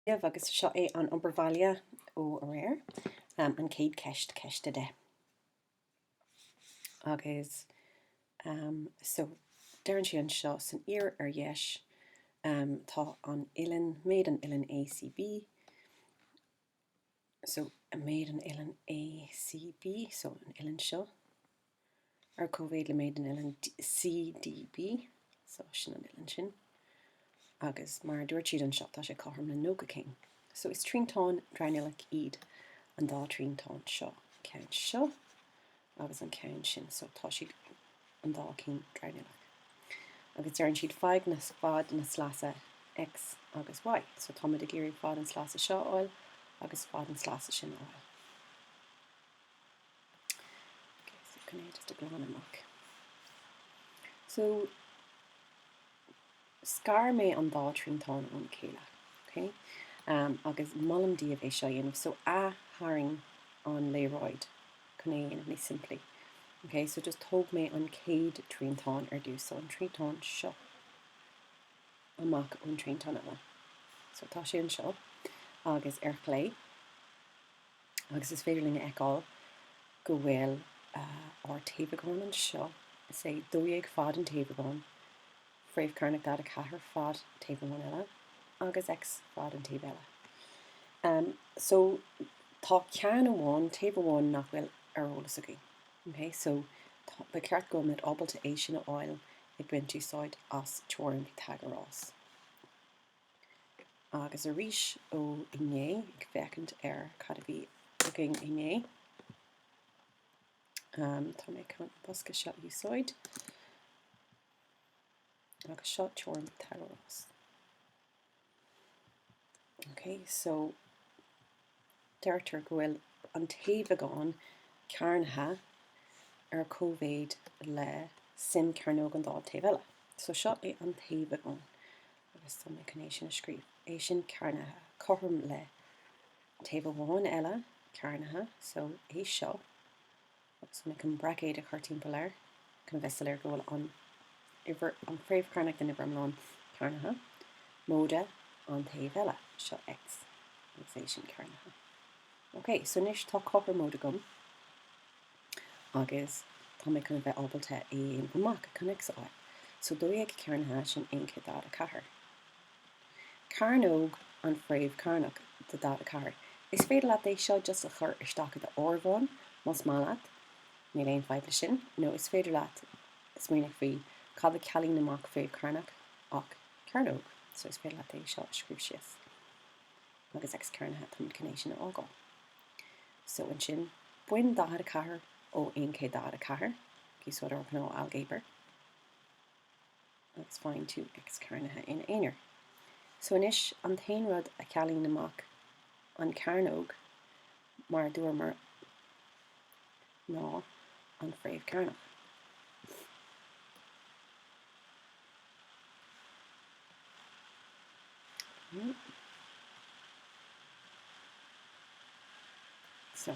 Gaillimh agus seo é an obair bhaile ó aréir. An chéad ceist, ceist a deich. Agus so, deireann sé anseo san fhíor ar dheis, tá an uillinn, méid an uillinn ACB, so a méid an uillinn ACB, so an uillinn seo, ar cóimhéid le méid an uillinn CDB, so sin an uillinn sin. Agus mar a dúirt siad anseo, tá sé cothrom le 90 céim. So is triantáin dronuilleach iad an dá triantáin seo. Ceann seo, agus an ceann sin so tá siad an dá cinn dronuilleach agus deireann siad faigh na, fad na sleasa X agus Y so tá muid ag iarraidh fad an sleasa seo a fháil agus fad an sleasa sin a fháil. Okay, so chun é just a glan amach. So scar mé an dá triantán óna chéile, ok? agus molaim daoibh é seo a dhéanamh, so ath-tharraing an léaráid chun é a dhéanamh níos simplí, ok? So just thóg mé an chéad triantán ar dtús, so an triantán seo amach ón triantán eile. So tá sé anseo agus ar chlé. Agus is féidir linn a fheiceáil go bhfuil ár taobhagán anseo, is é 12 fad an taobhagán, fréamh chearnach 44 fad taobh amháin eile, agus X fad an taoibh eile. Um so tá ceann amháin, taobh amháin nach bhfuil ar eolas againn. OK? So tá, ba cheart go mbeimid ábalta é sin a fháil ag baint úsáid as teoirim Pythagoras. Agus arís ó inné, ag féachaint ar cad a bhí againn inné, um, tá mé chun an bosca seo a úsáid, agus seo teoirim Pythagoras. Ok, so Deirtear go bhfuil an taobhagán cearnaithe ar cóimhéid le suim cearnóg an dá taobh eile. So seo é an taobhagán, agus tá mé chun é sin a scríobh, é sin cearnaithe, cothrom le taobh amháin eile cearnaithe, so é seo. Agus mé chun braicéid a chur timpeall air chun a bheith soiléir go bhfuil an uimhir, an fréamh chearnach den uimhir iomlán cearnaithe, móide an taobh eile, seo X agus é sin cearnaithe. Ok, so anois tá cothromóid agam agus tá mé chun a bheith ábalta é a dhéanamh amach chun X a fháil. So 12 cearnaithe, sin 144. Cearnóg an fréamh cearnach de 44. Is féidir leat é seo just a chur isteach i do áireamhán, más maith leat, níl aon fadhb leis sin, nó is féidir leat just smaoineamh faoi cad a cealaíonn amach fréamh cearnach ach cearnóg, so is féidir leat é seo a scríobh síos agus X cearnaithe táimid chun é sin a fhágáil. So ansin, bain 44 ó 144, ag úsáid do ghnáth ailgéabar. Agus faigheann tú x cearnaithe ina aonar. So anois an t-aon rud a cealaíonn amach an cearnóg, mar a dúramar, ná an fréamh cearnach. Okay. So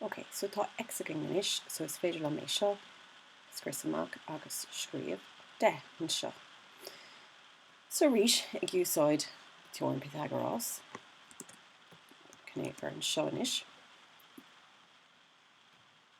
Ok, so tá X againn anois, so is féidir liom é seo a scrios amach agus scríobh 10 anseo. So arís, ag úsáid teoirim Pythagoras, chun é a chur anseo anois.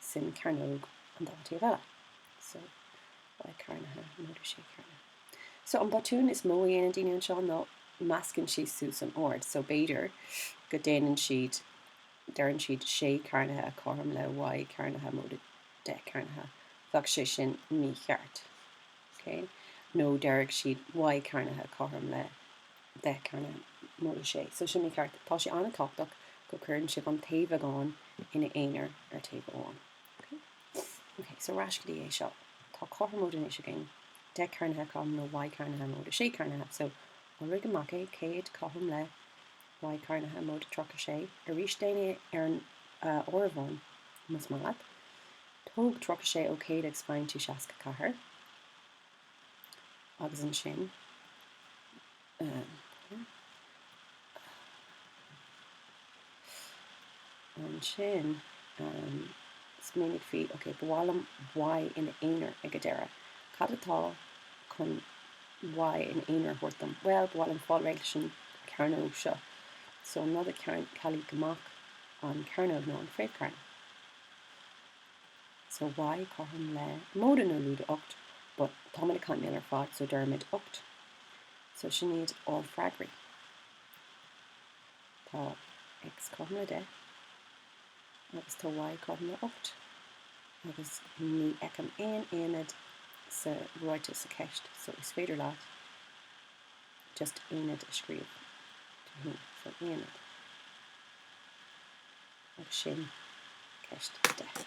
suim cearnóg an dá taobh eile. So Y cearnaithe móide sé cearnaithe. So an botún is mó a dhéanann daoine anseo ná meascann siad suas an ord. So b'fhéidir go déanann siad deireann siad sé cearnaithe cothrom le Y cearnaithe móide deich cearnaithe. Bheadh sé sin mícheart. Okay? Nó deirfeadh siad Y cearnaithe cothrom le deich cearnaithe móide sé, so sin mícheart. Tá sé an-tábhachtach go gcuireann sibh an taobhagán ina aonar ar taobh amháin. Ok? Ok, so ar ais go dtí é seo. Tá cothromóid anois againn, deich cearnaithe cothrom le y cearnaithe móide sé cearnaithe, so iolraigh amach é, céad cothrom le y cearnaithe móide tríocha sé, arís déan é ar an áireamhán más maith leat, tóg tríocha sé ó céad agus faigheann tú seasca ceathair. Agus ansin, ansin, smaoinigh faoi, ok, ba mhaith liom Y ina aonar ag an deireadh. Cad atá chun Y ina aonar a thabhairt dom? Bhuel, ba mhaith liom fáil réidh leis an chearnóg seo. So an rud a chealaigh amach an chearnóg ná an fréamh cearn. so y cothrom le móide nó lúide ocht but táimid ag caint ar fad so deirimid ocht so sin iad ár freagraí. Tá x cothrom le 10 agus tá y cothrom le 8 agus ní fheicim aon aonad sa ráiteas sa cheist so is féidir leat just aonad a scríobh do féin, so aonad. Ach sin ceist deas.